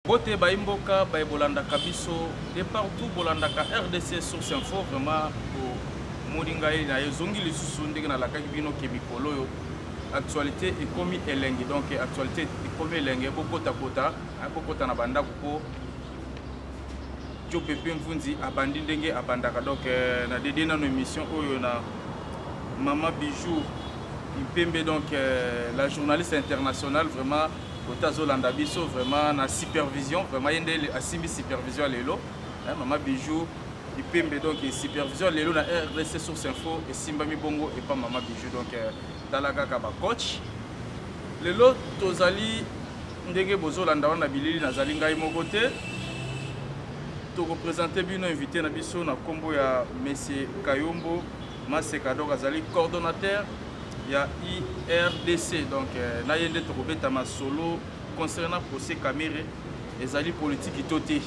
Bote bayi mboka baye bolandaka biso de partout bolandaka RDC source info vraiment omoni ngai na ezongi lisusu ndenge nalakaki bino ke mikolo oyo actualité ekomi elengi donc actualité ekomi elengi bokotakota bokota na bandako mpo jope mpe mvunzi abandi ndenge abandaka donc euh, na dede nano émission oyo na mama bijou mpembe donc euh, la journaliste internationale vraiment kote azolanda biso vraiment na supervision vraiment ye nde asimbi supervision lelo eh, mama bijou ipembe donc supervision lelo na rdc source info esimbami bongo epa mama bijou donc euh, tala kaka bacoach lelo tozali ndenge bozolanda wana na bilili nazali ngai moko te tokopresente bino invité na biso na nkombo ya monsieur kayombo maseka donc azali coordonnateur ya irdc donc euh, na ye nde tokobeta masolo concernant procès kamere ezali politiki to te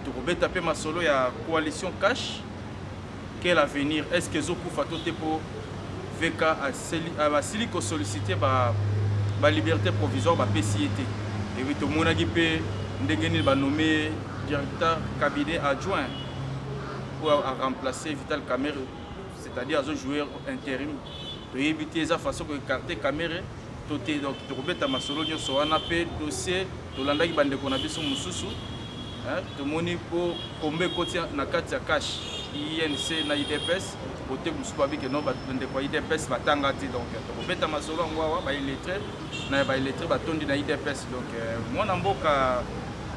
tokobeta mpe masolo ya coalition cash quel avenir est ce que ezokufa to te mpo vk asili euh, kosollicite baliberté provisoire bapesi ye te epuis tomonaki mpe ndenge nini banome directeur cabinet adjoint oyo aremplace vital camere c'est-à-dire azo jouer interim toyebi te eza façon koekarte kamere to te donc tokobeta masolo nyonso wana mpe dossier tolandaki bandeko na biso mosusu tomoni mpo kombe ekoti na kati ya cash inc na idps kote mosusu babi ke no bandeko ya idps batanga te donc tokobeta masolo yango awa baillettre na baillettre batondi na idps donc euh, mwana mboka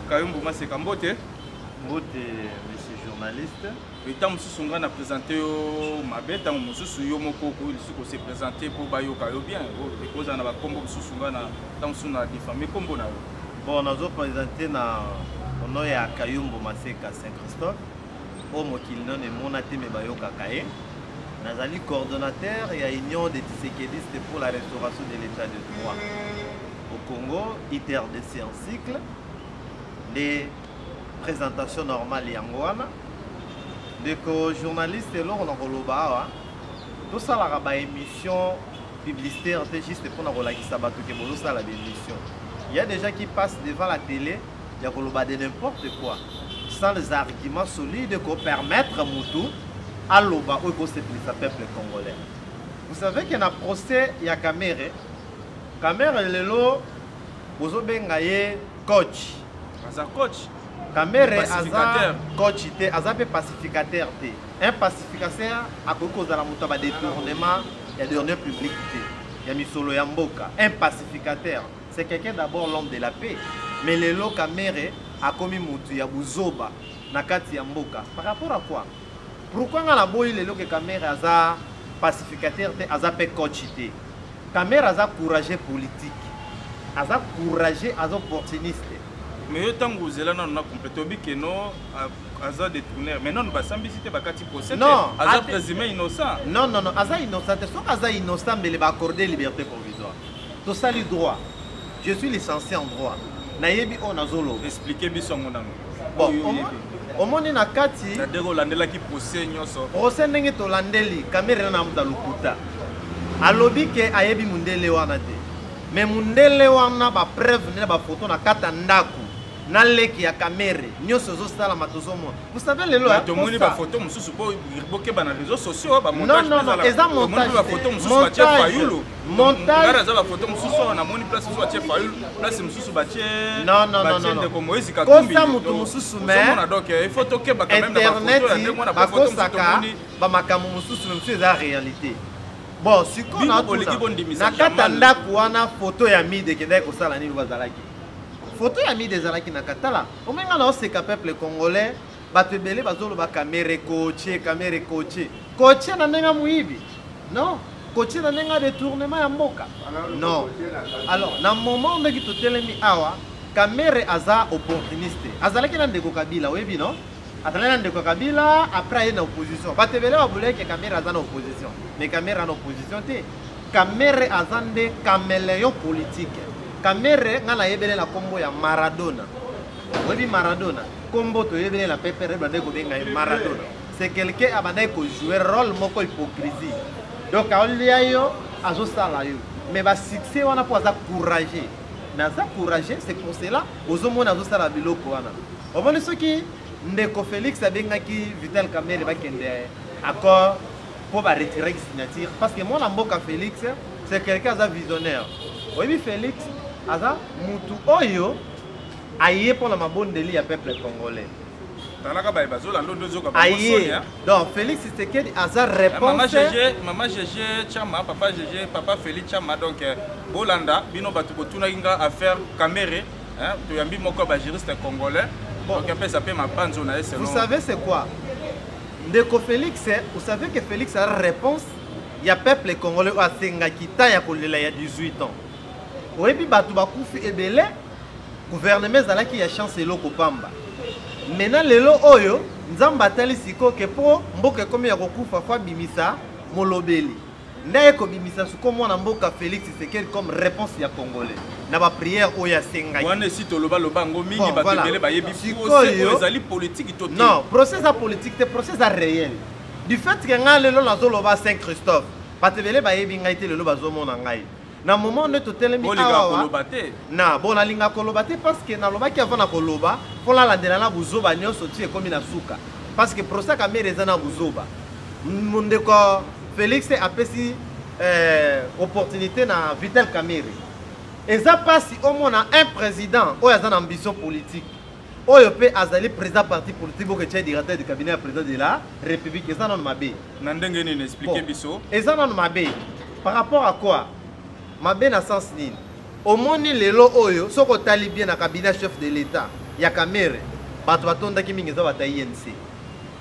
kayumbu maseka mbote mbote monsieur journaliste mais ntango mosusu ngai na présente yo mabe ntango mosusu yo moko okoki lisusu kose présente mpo bayoka yo bien ekozala na bakombo mosusu ngai na ntango mosusu na diffame kombo na yo bon nazo présente na ono ya kayumbu maseka saint christophe oyo mokili nano emona te me bayokaka ye nazali coordonnateur ya union des tisekedistes pour la restauration de l'état de droit au congo itrdc en cycle nde Présentation normale yango wana. Ndeko journaliste eloko na koloba awa tosalaka ba émission publicitaire te juste mpo na kolakisa bato ke bozosala ba émission il y a déjà qui passe devant la télé ya koloba de n'importe quoi sans les arguments solides ko permettre mutu aloba oyo ekosepelisa peuple congolais vous savez que na procès ya kamere kamere lelo bozobenga ye coach aza coach kamere aza coach te aza mpe pacificateur te un pacificateur akoki kozala moto ya badetournement ya dernier public te ya misolo ya mboka un pacificateur c'est quelqu'un d'abord l'homme de la paix mais lelo kamere akomi motu ya buzoba na kati ya mboka par rapport à quoi Pourquoi nga na boyi lelo ke Kamere aza pacificateur te aza pe coach te. Kamere aza courageux politique. Aza courageux, aza opportuniste. Mais yo tango ozela nanu na complète obi ke non aza détourner mais nanu basambisi te bakati procès te aza présumé innocent. Non non non, aza innocent te. Soki aza innocent mbele ba accorder liberté provisoire. Tosali droit. je suis licencié en droit nayebi oyo nazoloba explike biso yango nano omoni na kati nadeko olandelaki procès nyonso procès ndenge tolandeli kamere na namuta lokuta alobi ke ayebi mondele wana te me mondele wana bapreuve nde na bafoto na kati ya ndako na leki ya kamere nyonso ezosalama tozomona bosave lelo tomoni bafoto mosusu bokeba na réseau sociaux bamontage eza montage Montage. Naza ba photo mususu awa namoni place mususu atie Fayulu, place mususu batie Non non non non. Ndeko Moïse Katumbi. Kosa mutu mususu mais. Somona donc eh, il faut to keba quand même na photo ya ndeko na photo mususu tomoni. Ba makambo mususu mususu eza réalité. Bon, sikoyo na boliki bondimisa. Na kata ndako wana photo ya mide ekendaki kosala nini bazalaki? Photo ya mide ezalaki na katala. Omenga na oseka peuple congolais. bato ebele bazoloba kamere koche kamere koche koche na ndenge moyibi non koche na ndenge detournement ya mboka non alors na moment ndenge totelemi awa kamere aza opportuniste azalaki na ndeko kabila oyebi non azalaki na ndeko kabila après aye na opposition bato ebele baboleke kamere aza na opposition mais kamere aza na opposition te kamere aza nde cameleon politique kamere ngai nayebele na nkombo ya maradona oyebi maradona Kombo toyebele na pepere bande kobenga ye Maradona. C'est quelqu'un abandaki ko jouer rôle moko hypocrisie. Donc aolia yo azosala yo. Mais ba succès wana po aza courageux. Mais aza courageux c'est pour cela ozomona azosala biloko wana. Omoni soki ndeko Felix abengaki Vital Kamerhe bakende accord po ba retirer signature parce que mwana mboka Felix c'est quelqu'un aza visionnaire. Oyebi Felix aza mutu oyo aye mpo na mabondeli ya peuple congolais talaka baye bazolanda ondo ezoka aye donc félix tshisekedi aza réponsemama gege chama papa gege papa félix chama donc euh, bolanda bino bato botunaki nga affaire camere toyambi moko ya bagiriste congolais donc apesa mpe mabanzo na ye selon vous savez c'est quoi ndeko félix vous savez que félix a réponse ya peuple congolais oyo asengaki ta ya kolela ya 18 ans oyebi bato bakufi ebele gouvernement ezalaki ya chance eloko pamba me na lelo oyo nzambe atali sikoyo ke mpo mboka ekomi ya kokufa fo abimisa molobeli nde aye kobimisa siko mwana mboka félix tshisekedi comme réponse ya congolais na baprière oyo asengaki wana esi tolobaloba yango mingi bon, bato voilà. ebele bayebi sikoyo ezali politiki to non procès eza politiki te procès eza réel du fait ke ngai lelo nazoloba saint christophe bato ebele bayebi ngai te lelo bazomona ngai na moment nde totelemi awa na bon nalinga koloba te parce que nalobaki avant na koloba mpo nalandela na buzoba nyonso ti ekomi na suka parce que prosa kamere eza na buzoba ndeko félix apesi eh, opportunité na vital kamere eza mpasi omona un président oyo aza na ambition politique oyo mpe azali président parti politique boke tya directeur du cabinet ya président de la république eza nano mabe na ndenge nini explike biso eza nano mabe par rapport à quoi mabe na sens nini omoni lelo oyo soki otali bien na cabinet chef de l'état ya kamere bato batondaki mingi eza bato ya inc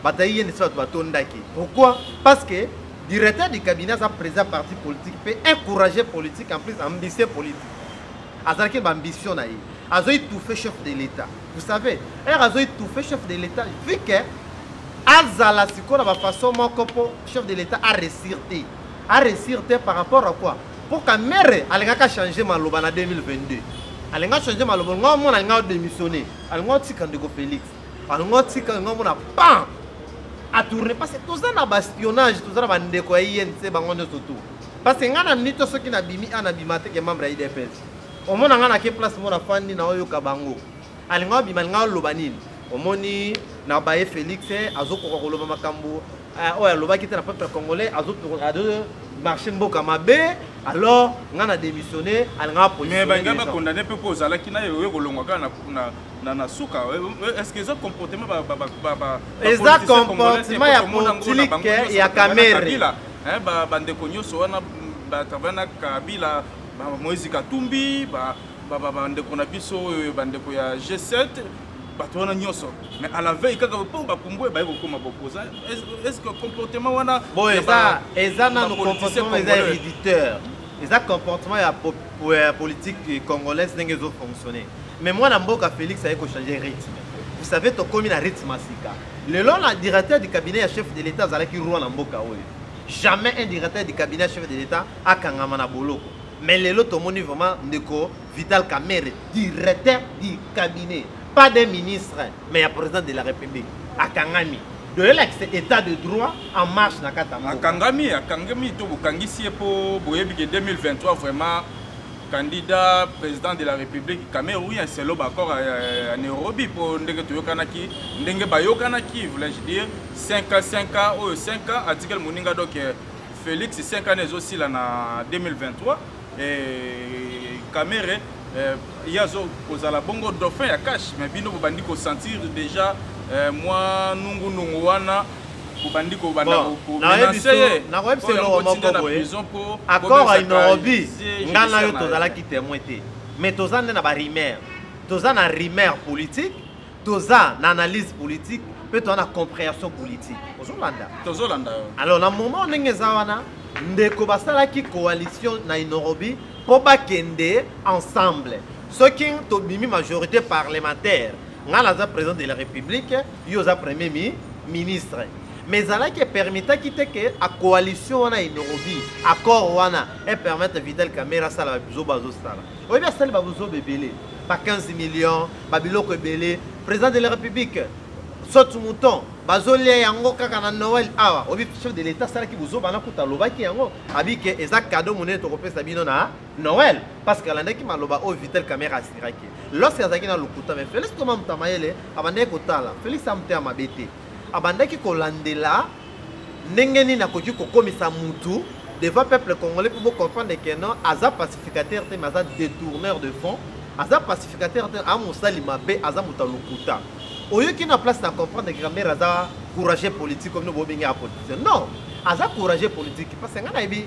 bato ya inc bato batondaki pourquoi parce que directeur du cabinet aza président parti politique mpe encouragé politique en plus ambitieux politique azalaki ba ambition na ye azo étouffer chef de l'état vous savez heure azo étouffer chef de l'état vu que azala sikoyo na bafaçon moko mpo chef de l'état aresir te aresir te par rapport à quoi mpo kamere alingaka change maloba na 2022 alinga change maloba nga omona alinga odémissionne alinga otika ndeko félix alinga otika nga omona pan atourne parce que toza na baspionnage toza na bandeko ya inc bango nyonso tout parce que ngai na mini to soki nabimi a nabima te ke membre ya idps omona ngai nake place mona fandi na oyoka bango alinga obima alinga oloba nini omoni na baye félix eh, azokoka koloba makambo eh, oyo alobaki te na peuple congolais azomarche mboka mabe alors nga na démissionné alinga mais balinga bakondane mpe mpo ozalaki naye oye kolongwa kaka na na suka eh, eh, est-ce que eza comportement eza comportement ya politique ya kamere eh, ba bandeko nyonso wana batravaya na kabila moise katumbi bandeko na biso oyo bandeko ya g7 bato wana nyonso mais à la veille kaka mpo bapumbwe baye kokoma bopoza est ce que comportement wana bon eza eza nano comportement eza héréditeur eza comportement ya politique congolaise ndenge ezofonctionne mais mwana mboka félix aye kochange rythme vous savez tokomi na rythme ya sika lelo na directeur du cabinet ya chef de l'état azalaki roi na mboka oyo jamais un directeur du cabinet ya chef de l'état akangama na boloko mais lelo tomoni vraiment ndeko vital kamere directeur du cabinet pas des ministres mais ya président de la république akangami toyelakisa état de droit en marche na kati ya akangami akangami to bokangisi ye mpo boyebi ke 2023 vraiment candidat président de la république kamerhe oui c'est loba accord à, euh, à nairobi mpo ndenge toyokanaki ndenge bayokanaki voulais-je dire 5 ans 5 ans oyo 5 ans atikeli moninga donc euh, félix 5 ans ezosila na 2023 et kamerhe euh, ye azo kozala bongo dauphin ya cash mais bino bobandi kosentir déjà mwa nungunungu wana obandi kobanda komenase ye nakoyebisa eloko moko boye accord ya inorobi ngai na yo tozalaki témoin te mais toza nde na barimaire toza na rimaire politique toza na analyse politique mpe toza na compréhension politique ozolanda tozolanda alors na moment ndenge eza wana ndeko basalaki coalition na inorobi mpo bakende ensemble soki tobimi majorité parlementaire ngai naza président de la république yo oza premier mi ministre mais ezalaki epermetaki te ke a coalition wana enorobi accord wana epermettre vital camera asala babuzoba azosala oyebi asali babuzoba ebele ba 15 millions babiloko ebele président de la république sote mouton bazolia yango kaka na noel awa oyebi chef de l'état asalaki buzoba nakuta alobaki yango abike eza cadeau monene tokopesa bino na Noël parce que alandaki maloba oyo Vital Kamerhe asiraki lorsque azalaki na lokuta mais Felix Koma Mutamayele abandaki kotala Felix amutema mabe te abandaki kolandela ndenge nini akoki kokomisa mutu devant peuple congolais pour comprendre que non aza pacificateur te mais aza détourneur de fonds aza pacificateur te amusali mabe aza moto ya lokuta oyoki na place na comprendre que Kamerhe aza courageux politique comme no bobengi ya politicien non aza courageux politique parce que ngai nayebi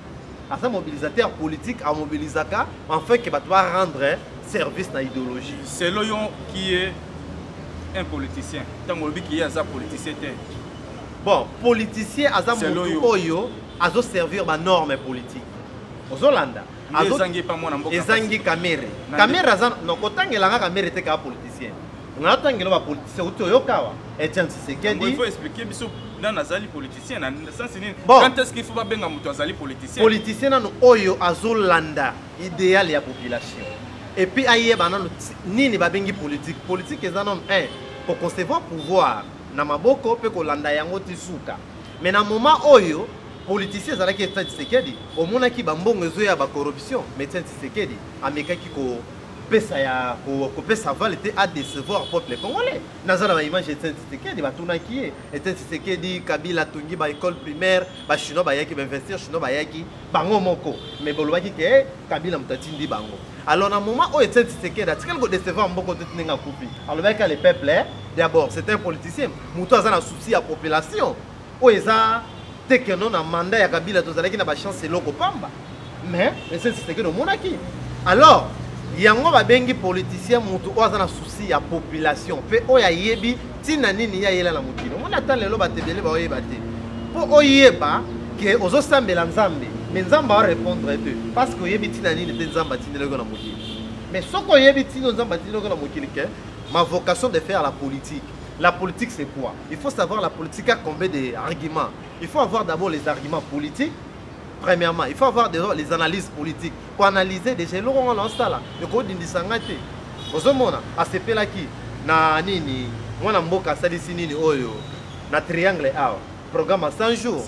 aza mobilisateur politique amobilisaka enfin ke bato barendre service na idéologie selo yo qui est un politicien ntango olobi kiye aza politicien te bon politicien aza motu oyo azoservir banorme politique ozolanda ezangi kamere kamere aza no kotangela nga kamere te kaa politicien nga natangela bapoliticien uti oyokawa etienne sisekedi politicien na sasi nini bon. quand est-ce qu'il faut babenga moto azali politicien politicien nano oyo azolanda idéal ya population et puis ayeba nano nini babengi politique politique eza nano un koconcevoir pouvoir na maboko mpe kolanda yango ti suka mais na moment oyo politicien ezalaki etienne tshisekedi omonaki bambongo ezoya bacorruption mais etienne tshisekedi amekaki ko kopesa ya kopesa vale te adecevoir peuple congolais naza na baimage etienne tshisekedi batunaki ye Etienne Tshisekedi, Kabila atongi ba école primaire, ba chinois bayaki, ba investisseurs chinois bayaki, bango moko. Mais bolobaki ke eh, Kabila moto atindi bango. Alors na moment oyo Etienne Tshisekedi atikali ko décevoir mboko te ndenge akufi. Alobaki ka le peuple eh, d'abord c'est un politicien, moto aza na souci ya population. Oyo eza tekeno na mandat ya Kabila tozalaki na ba chance eloko pamba. mais ese tshisekedi omonaki alors yango babengi politicien motu oyo aza na souci ya population mpe oyo ayebi ntina nini ye ayela na mokili omoni ata lelo bato ebele baoyeba te mpo oyeba ke ozosambela nzambe mais nzambe arépondre te parce que oyebi ntina nini te nzambe atindelaki na mokili mais soki oyebi ntino nzambe atindelaki na mokili ke ma vocation de faire la politique la politique c'est quoi il faut savoir la politique a combien de arguments il faut avoir d'abord les arguments politiques premièrement il faut avoir des, les analyses politiques koanalyse déjà eloko nga naosala ekodindisa nga te ozomona asepelaki na nini mwana mboka asalisi nini oyo na triangle awa programme ya 100 jours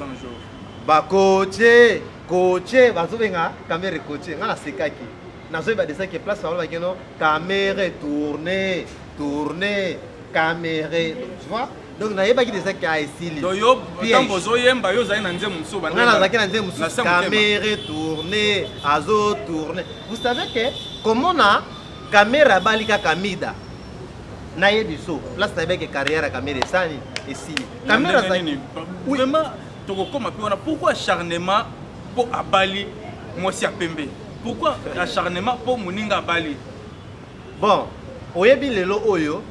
bakoce koce bazobenga kamere koce nga nasekaki nazoyeba desa ke place bango bakeno kamere tourne tourne kamere tu vois donc nayebaki deja ke esili donc yo ntango ozoyemba yo ozali na nzembo mosusu nga nazalaki na nzembo mosusu kamere tourne azo tourne vous savez ke komona kamere abali kaka mida nayebi so place nayebaki carrière ya kamere esani esili kamere azalaki vraiment tokokoma mpe wana pourquoi acharnement mpo abali mwasi ya pembe pourquoi acharnement mpo moninga abali bon oyebi lelo oyo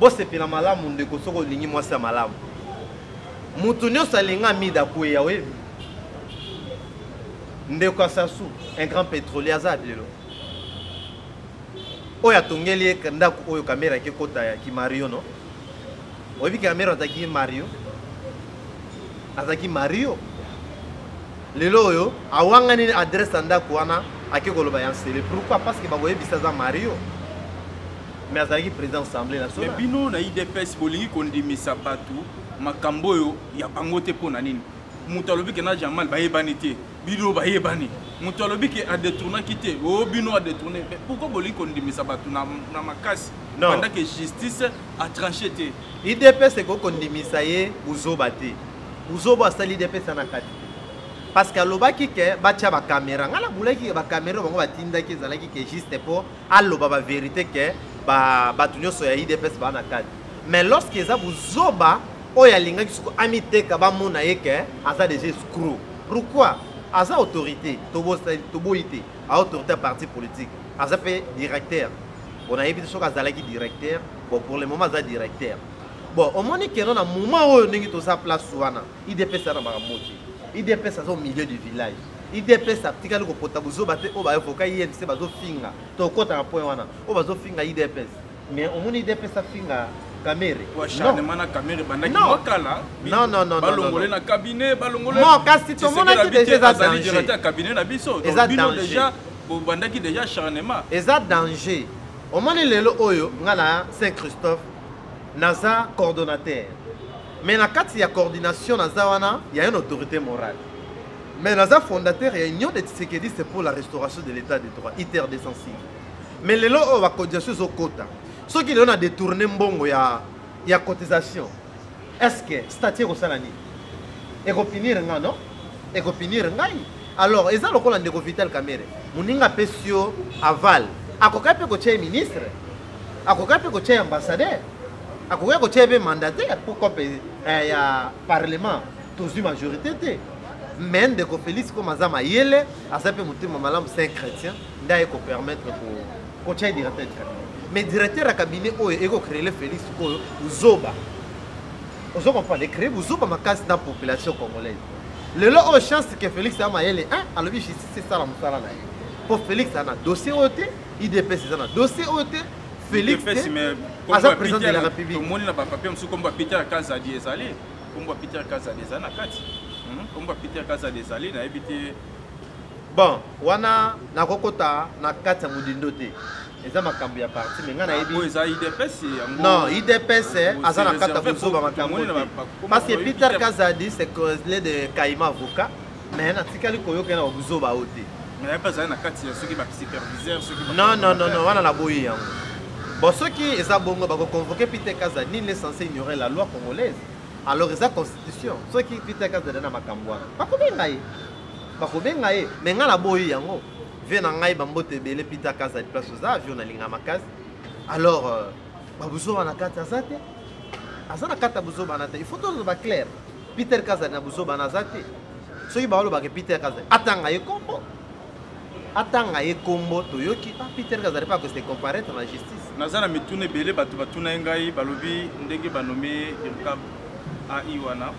bosepela malamu ndeko soki olingi mwasi ya malamu moto nyonso alinga mida kweya oyebi ndeko ya sasu un grand pétrolier aza lelo oyo atongeli ye ndako oyo kamera ake kota ya kimario no oyebi kamera azalaki mario azalaki mario lelo oyo awangani adresse ya ndako wana ake koloba ya nsele pourquoi parce que bakoyebisa aza mario mais azalaki président assemblée nationale mais bino na idps bolingi kondimisa bato makambo oyo ya bango te mpo na nini moto alobi ke na jamal bayebani te bino bayebani moto alobi ke adetournaki te o oh, bino adetourne mais pourquoi bolingi kondimisa bato na, na makasi banda ke justice atranche te idps ekoki kondimisa ye buzoba te buzoba asali idps ana kati parce que alobaki ke batya bakamera ngai nabulaki bakamera bango batindaki ezalaki ke juste mpo aloba ba verite ke ba bato nyonso ya idps baa na kati mais lorsque eza buzoba oyo alingaki soko amiteka bamona ye ke aza deja escro pourquoi aza autorité toboyi te autorité ya parti politique aza mpe directeur bon nayebi te soki azalaki directeur bon pour le moment aza directeur bon omoni keno na moment oyo ndenge toza place wana idps aza na makambo te idps aza au milieu du village idps atikali kopota buzoba te oyo baevoka imc bazofinga tokota na point wana oyo bazofinga idps mais omoni idps afinga kamere acharnement na kamere ebandaki mokala balongole na cabinet balongolekasi tomonaki deja eza danger ya cabinet na biso eza bino deja bobandaki deja acharnement eza danger omoni lelo oyo ngai na saint christophe naza coordonnateur mais na kati ya coordination naza wana ya une autorité morale Mais naza fondateur ya Union des Tshisekedistes pour la restauration de l'état de droit, ITER 206. Mais lelo oyo ba cotisation ezo kota. Soki lelo na détourner mbongo ya ya cotisation. Est-ce que statut ekosala nini? Ekopinir nga non? Ekopinir ngai. Alors eza lokola ndeko Vital Kamerhe. Muninga apesi yo aval. Akoka pe kotia ye ministre. Akoka pe kotia ye ambassadeur. Akoka kotia ye pe mandataire pour kope eh, ya parlement. tozwi majorité te mais ndeko félix comme aza mayele aza mpe motema malamu c'est un chrétien nde aye kopermettre kotya directeur du cabinet mais directeur ya cabinet oyo ekocréele félix oyo zoba ozo comprendre ecree buzoba makasi na population congolaise lelo oyo chance ke félix ya mayele alobi justice esala mosala na ye mpo félix aza na dossier oyo te idps eza na dossier oyo te félix te aza président de la république tomoni na bapapier mosusu kombo ya peter kazadi ezali Kombo ya Peter Kazadi eza na kati. Hmm? Kombo ya Peter Kazadi ezali nayebi te. Bon, wana nakokota na kati ya modindo te. eza makambo ya parti me ngai nayebi non idps aza na kati ya kozoba makambo te parce que peter kazadi c'est le de kaima avocat mais natikali koyoka ye na babuzoba oyo te mais mpe azali na kati ya soki basuperviseur soki non non non non wana naboyi yango bon soki eza bongo bakoconvoke peter kaza nini est censé ignorer la loi congolaise alors eza constitution soki peter kaza eza na makambo wana bakobenga ye bakobenga ye mais ngai naboyi yango vie na ngai bambote ebele peter kaza place oza avio nalinga makasi alors euh, babuzoba na kati aza te aza na kati ya buzoba na te il faut tozala baclaire Peter Kazadi na buzoba naza te. Soki balobaka Peter Kazadi atanga ye kombo. Atanga ye kombo toyoki ah Peter Kazadi pas que se comparer na justice. Naza na mituna ebele bato batuna ye ngai balobi ndenge banome Irkab AI wana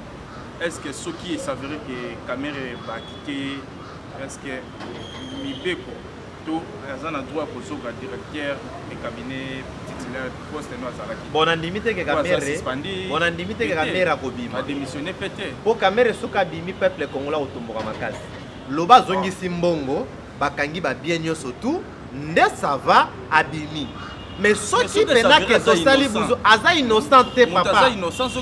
est ce que soki esavere ke Kamere bakite est ce que mibeko to aza na droit ya kozoka directeur de cabinet titulaire poste no azalaki bon nandimi te ke kamere bon nandimi te ke kamere akobima adémissionne mpe te mpo kamere soki abimi peuple kongola kotomboka makasi loba azongisi mbongo bakangi babien nyonso tout nde sava abimi mais soki penake tosali buzu aza innocent te papa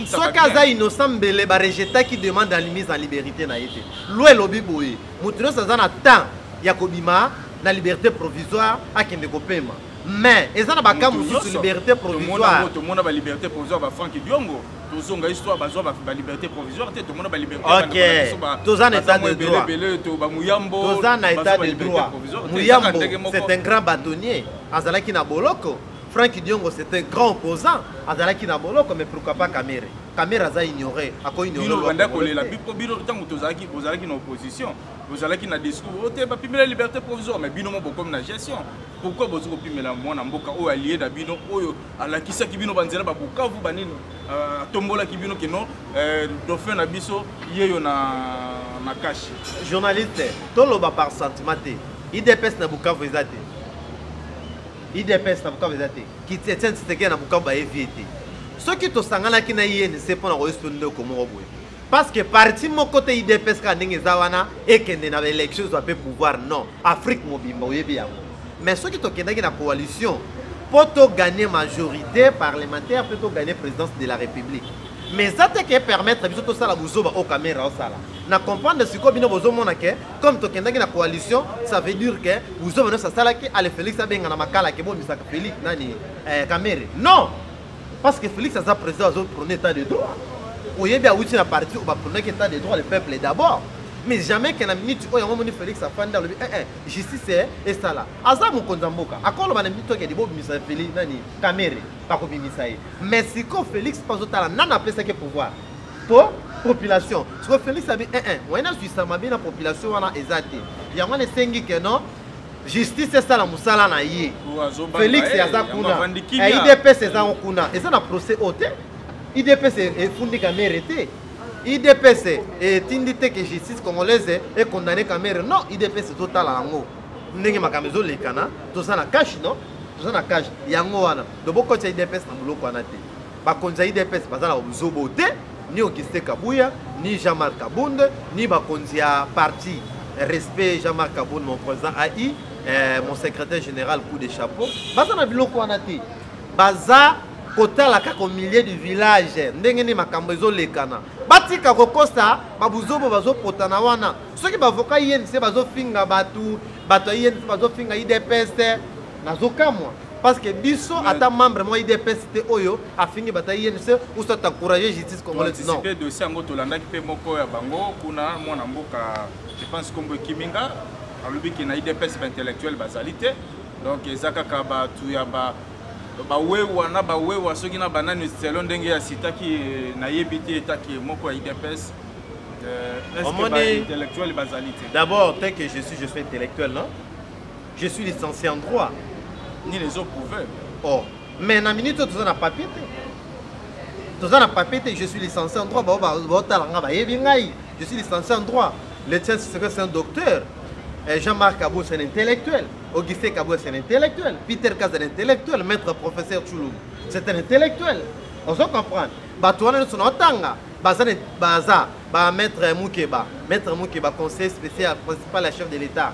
soki aza innocent mbele barejetaki demande ya mise en liberté na ye te loi elobi boye moto nyonso aza na temps ya kobima na liberté provisoire akende kopema mais eza na baka mosusu liberté provisoire tomona baliberté provisoire bafrank diongo tozonga histoire bazwa baliberté provisoire te tomona balibertétoza na état de droittoza na état de droit muyambo c'est un grand bâtonnier azalaki na boloko frank diongo c'est un grand opposant azalaki na boloko mais pourquoi pas kamere kamere aza ignore ako ignore banda kolela bipo bino ntango tozalaki bozalaki na opposition bozalaki na discours oyo oh, te bapimela liberté provisoire mais bino mo bokomi na gestion pourquoi bozi kopimela mwana mboka oyo alie na bino oyo alakisaki bino banzela babukavu banini euh, atombolaki bino kino euh, dauphin na biso yeyo na na kashi journaliste toloba par sentiment te idps na bukavu eza te idps na bukavu eza te kiti ya tiani tshisekedi na bukavu baye vie te soki tosanganaki na inc mpo na koyesi to ndeko moko boye parce que parti moko te idps kaka ndenge eza wana ekende na baélection ezwa mpe pouvoir non afrique mobimba oyebi yango mais soki tokendaki na coalition mpo toganye majorité parlementaire mpe toganye présidence de la république mais eza te ke permettre biso tosala buzoba oyo kamera osala na comprendre sikoyo bino bozomona ke comme tokendaki na coalition ça veut dire que buzoba nyonso asalaki ale félix abenga na makala ke bomisaka félix nani eh, kamere non parce que félix aza président azoprone état de droit oyebi awuti na parti oyo bapronaki état de droit le peuple d'abord mais jamais ke na minute oyo yango omoni félix afandi alobi ee eh, eh, justice eh, esala aza mokonzi ya mboka akoloba na minute oyo kedi bobimisa félix nani kamere bakobimisa ye mais sikoyo félix mpe azotala nani apesaki pouvoir po population sikoyo felix abi ee eh, eh, moyen azwisa mabe na population wana eza te yango wana esengi ke non justice esala mosala na ye felix eh, aza kuna idps eza yango kuna eza na procès oyo te idps efundi kamere te idps etindi te ke justice congolaise econdamne kamere non idps ezotala yango ndenge makambo ezolekana toza na cash non toza na cash yango wana lobokotya idps na boloko wana te bakonzi ya idps baza na buzobo te ni auguste kabuya ni jean marc kabund ni bakonzi ya parti respect jean marc kabund mon président ai eh, mon secrétaire général coup de chapeau baza na biloko wana te baza kotala kaka au milieu du village ndenge nini makambo ezolekana batika kokosa babuzobo bazopotana wana soki bavoka inc bazofinga bato bato ya inc bazofinga idps nazokamwa parce que biso ata membre mwa idps te oyo afingi bata inc ou soit encourage justice congolaise non pe dossier yango tolandaki pe moko ya bango kuna mwana mboka je pense kombo kiminga alobi ke na idps ba intellectuel bazali te donc eza kaka bato ya ba bawewa na bawewa soki na banani selo ndenge ya sitaki eh, nayebi te etaki moko ya idps euh, est ce que ba intellectuel bazali te d'abord tel que je suis je suis intellectuel non je suis licencié en droit nini ezo prouve oh mais na minute oyo toza na papier te toza na papier te je suis licencié en droit bao baotala nga bayebi ngai je suis licencié en droit le tien secret c'est un docteur eh, Jean-Marc Abou c'est un intellectuel Augustin Kabou c'est un intellectuel Peter Kaz c'est un intellectuel maître professeur Chulou c'est un intellectuel ozo comprendre bato wana nyonso na otanga baza baza ba maître mukeba maître mukeba conseil spécial principal ya chef de l'état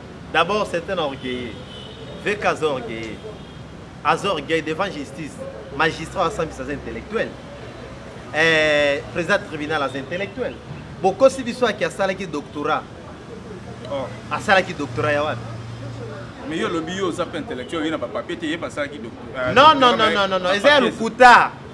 D'abord, c'est un orgueilleux. VK aza orgueilleux. Aza orgueilleux devant justice. Magistrat asambisa aza intellectuel. Eh, président tribunal aza intellectuel. Bokosi biso aki asalaki doctorat. Oh. Asalaki doctorat ya wapi? Mais yo lobi yo oza pe intellectuel, yo na ba papier te, ye basalaki doctorat. Non non non non non, eza lokuta.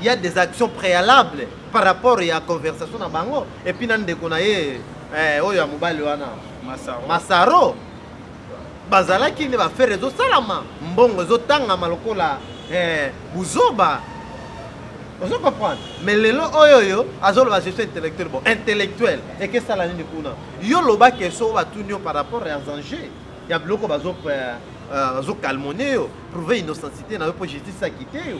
il y a des actions préalables par rapport à la conversation na bango et puis na ndeko na ye eh, oyo ya mobali wana masaro, masaro. bazalaki nde bafere ezosalama mbongo ezotangama lokola eh, buzoba ozo comprendre mais lelo oyo oyo azoloba gestion intellectuelle bon intellectuelle ekesala nini kuna yo loba keso batuni yo par rapport ya enjeu ya biloko bazokalmone euh, euh, yo prouve innocencité na yo mpo justice akite yo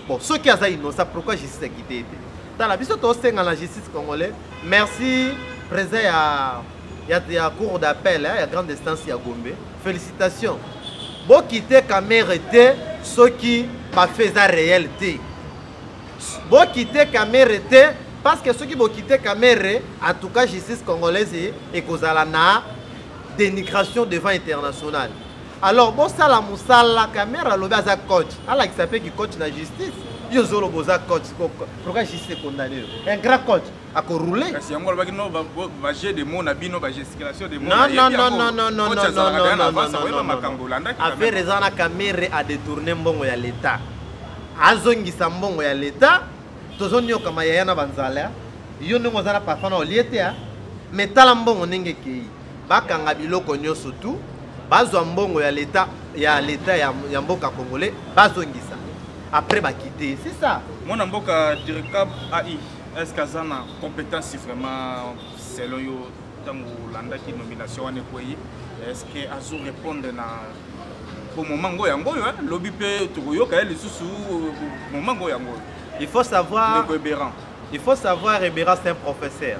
bon soki aza innocent pourquoi justice akite ye te tala biso tosenga na justice congolais merci président ya, ya, ya cour d'appel ya grande instance ya gombe félicitation bokite kamere te soki bafe eza réel te bokite kamere te parce que soki bokite kamere en tout cas justice congolaise ekozala na dénigration devant internationale alors bosala mosala kamere alobi aza coach alakisa mpe kicoach na justice yo ozoloba oza coach pourquoi justice condamne yo un grand coach akorule kasi yango alobaki no baje de mo na bino bagesticulation de makambo olandaki affaire eza na kamere adetourne mbongo ya leta azongisa mbongo ya leta tozonyokama yaya na banzala yo ndenge oza na parfum na olie te mais tala mbongo ndenge ekei bakanga biloko nyonso tu bazwa mbongo ya leta ya leta ya, ya mboka congolais bazongisa après bakite c'est ça mwana mboka direcab ai est ce que aza na compétence vraiment selon yo ntango olandaki nomination wana ekwei est ce que azo répondre na po moment ngo yango oyo lobi mpe tokoyoka ye lisusu moment ngo yango oyo il faut savoir il faut savoir ebera c'est un professeur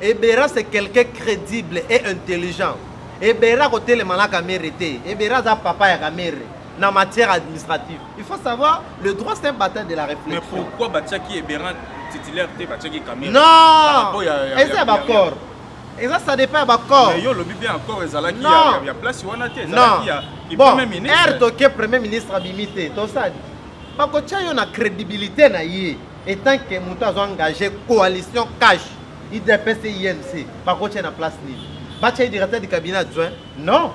ebera c'est quelqu'un crédible et intelligent ebera kotelema na kamere te ebera aza papa ya kamere na matière administrative il faut savoir le droit c'est un bataille de la réflexion mais pourquoi batiaki ebera titulaire te batiaki kamere non eza ya baccord eza ça dépend ya baccord yo olobi bien accord ezalaki ya place wana te ezalaki ya bon r toke premier ministre abimi te tosali bakotya yo na crédibilité na ye etant que moto azo engage coalition cash idps imc bakotia na place nini batya ye directeur du cabinet adjoint non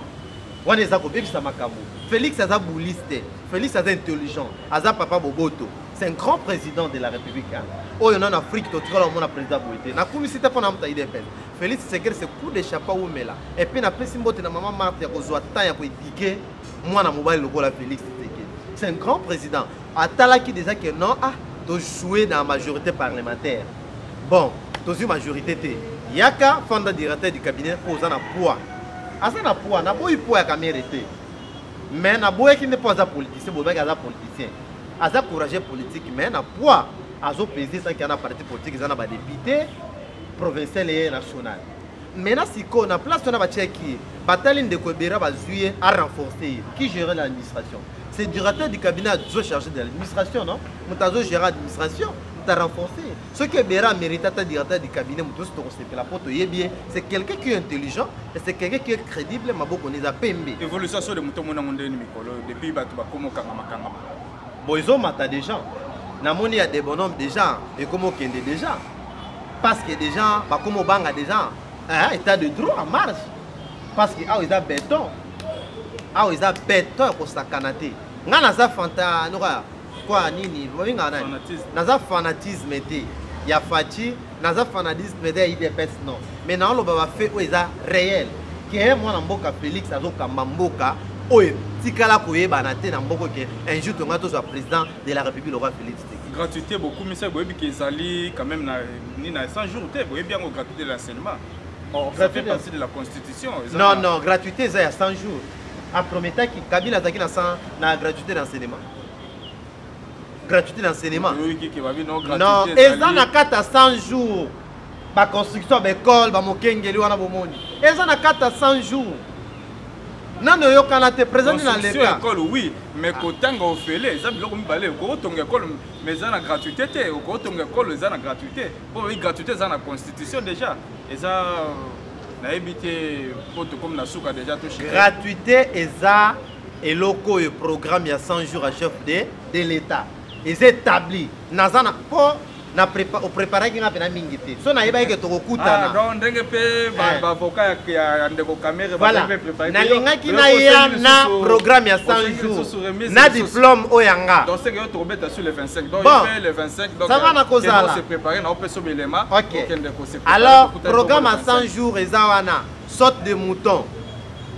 wana eza kobebisa makambo félix aza boulise te félix aza intelligent aza papa boboto c'est un grand président de la république hein. oyo nano afrique totikala omona président boye te nakumisi te mpo na moto idps félix tshisekedi se coup de chapeau wumela epuis napesi mbote na mama marte ya kozwa temps ya koedike mwana mobali lokola félix tshisekedi c'est un grand président atalaki déjà que non ah tojoue na majorité parlementaire bon tozwi majorité te yaka fanda directeur du cabinet mpo oza na poids aza na poids naboyi poids ya kamere te mais naboyaki nde mpo aza politicien bolobaki aza politicien aza courageux politique mais na poids azopese sanki ya na parti politique eza na badepute provincial eye national mena sikoyo na place wana batiaki ye batali ndeko ebera bazwi ye a renforce ye qui gere l'administration c'est directeur du cabinet azo charge de l'administration non moto azo gere administration moto a renforce ye soki ebera amérite ata directeur du cabinet moto nyonso tokosepela mpo toyebi ye c'est quelqu'un qui est intelligent et c'est quelqu'un qui est crédible maboko na eza pembe évolution so de moto omonango ndeni mikolo depuis bato bakoma okangama kangama bon ezomata déjà namoni ya debonome déjà ekomi okende déjà parce que des gens bakoma obanga des gens hein, état de droit en marche parce que awa eza beton awa eza beton ya kosakana te ngai naza fanta noka kwa nini babengaka nani naza fanatisme te ya faci naza fanatisme te ya idps non mais naoloba bafe oyo eza réel ke mwana mboka félix azokamba mboka oyo etikala koyebana te na mboko ke un jour tonga tozwa président de la république lokwa félix gratuité bokumisa boyebi ke ezali quand même na ni na 100 jours te boyebi yango gratuité de l'enseignement oh, ça fait partie de la constitution non non gratuité eza ya 100 jours aprometaki kabila azalaki na 100 na gratuité de l'enseignement gratuité d'enseignement non eza na kata 100 jours baconstruction ya baekole bamokengeli wana bomoni eza na kati ya 100 jours nano oyokana te présente na leta école oui mais kotanga ofele eza biloko mibale okotonga école mais eza na gratuité te okotonga école eza na gratuité mpo oyi gratuité eza na constitution déjà eza nayebi te mpo tokomi na suka déjà toshi gratuité eza eloko oyo programme ya 100 jours à chef de de l'état eza établi naza na mpo na prepa opreparaki nga mpena mingi te so nayebaki ke tokokutana ah, donc ndenge mpe eh. bavoka ya ndeko kamere voilà nalingaki naya na programme ya 100 jours na diplôme oyo ya nga donc seke yo tokobeta sur le 25 donc bon. le 25 donc ça va nakozala se préparer na opesa obe elema okay. okende ko se alors programme ya 100 jours eza wana sorte de mouton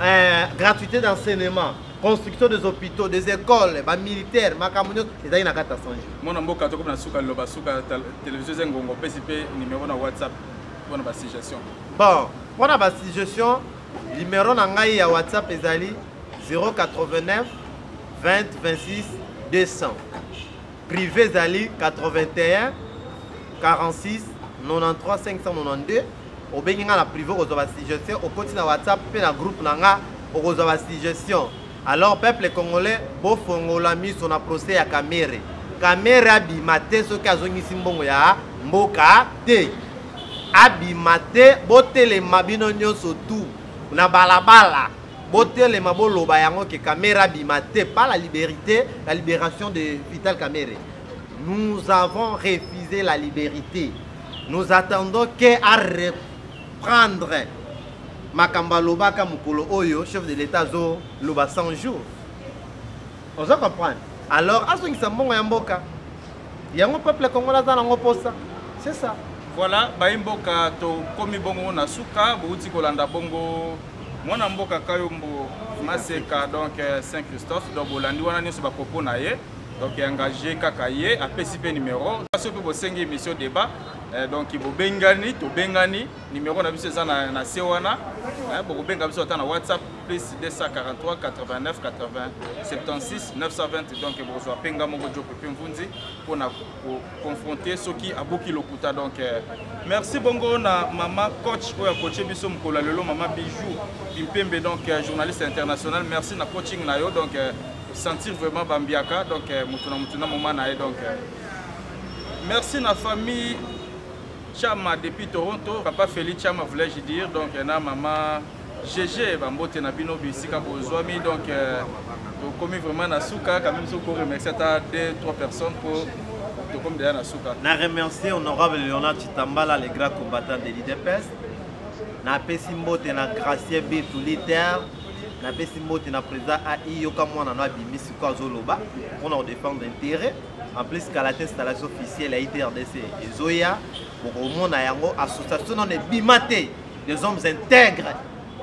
euh, gratuité d'enseignement construction des hôpitaux des écoles ba militaire makambo nyonso ezali na kati ya 100 jours mwana mboka tokomi na suka liloba suka télévision eza ngongo opesi mpe numéro na whatsapp mpo na basuggestion bon mpo na basuggestion numéro na ngai ya whatsapp ezali 089 20 26 200 Privé ezali 81 46 93 592 obengi nga na privé okozwa ba suggestion okoti na whatsapp mpe na groupe na nga okozwa ba suggestion alors peuple congolais bofongola miso na procès ya kamere kamere abima te soki azongisi mbongo ya mboka te abima te botelema bino nyonso tu na balabala botelema boloba yango ke kamere abima te pas la liberté la libération de vital kamere nous avons refusé la liberté nous attendons ke a reprendre makambo alobaka mokolo oyo chef de l'état azoloba 100 jours ozo comprendre alors azongisa mbongo ya mboka yango peuple congolais aza nango posa c'est ça voilà bayi mboka tokomi bongo na suka bouti kolanda bongo mwana mboka kayombo maseka donc euh, saint christophe donc bolandi wana nyonso bakopo na ye donc engage kaka ye apesi mpe numero soki mpe bosengi émission débat euh, donc bobengani tobengani numero na biso eza na se wana euh, bokobenga biso ata na whatsapp plus 243 89 80 76 920 donc bokozwa mpe nga moko jope mpe mvunzi mpo na koconfronte soki abuki lokuta donc euh, merci bongo na mama coach oyo akoche biso mokolo ya lelo mama bijou bimpembe donc euh, journaliste international merci na coaching na yo donc euh, sentir vraiment bambiaka donc moto na moto na moma na ye donc merci na famille chama depuis toronto papa feli chama voulais-je dire donc na mama GG, ba mbote na bino bisika bozwami donc euh, tokomi vraiment na suka quand même soko remercier ata deux trois personnes pour tokomi deja na suka. Na remercier honorable Leonard Chitambala le grand combattant de l'IDPS. Napesi mbote na Gracier Bitu Liter. Napesi mbote na président AI yoka mwana na bimi siko azoloba mpo na kodefendre intérêt en plus kala te installation officielle ya itrdc ezoya bokomona yango association nano ebima te des hommes intègres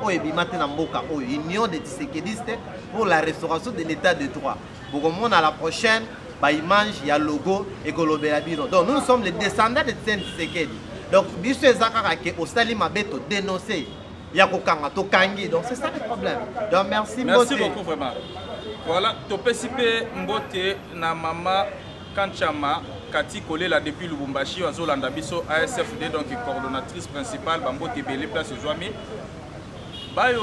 oyo ebima te na mboka oyo union de tisekediste pour la restauration de l'état de droit bokomona la prochaine baimage ya logo ekolobela bino donc nous sommes les descendants de tien tisekedi donc biso eza kaka ke osali mabe todénonce ya kokanga tokangi donc c'est ça le problème donc merci merci beaucoup vraiment voilà topesi mpe mbote na mama Kanchama Cathy Kolela depuis Lubumbashi azolanda biso ASFD donc coordonnatrice principale bambote ebele place ezwami bayo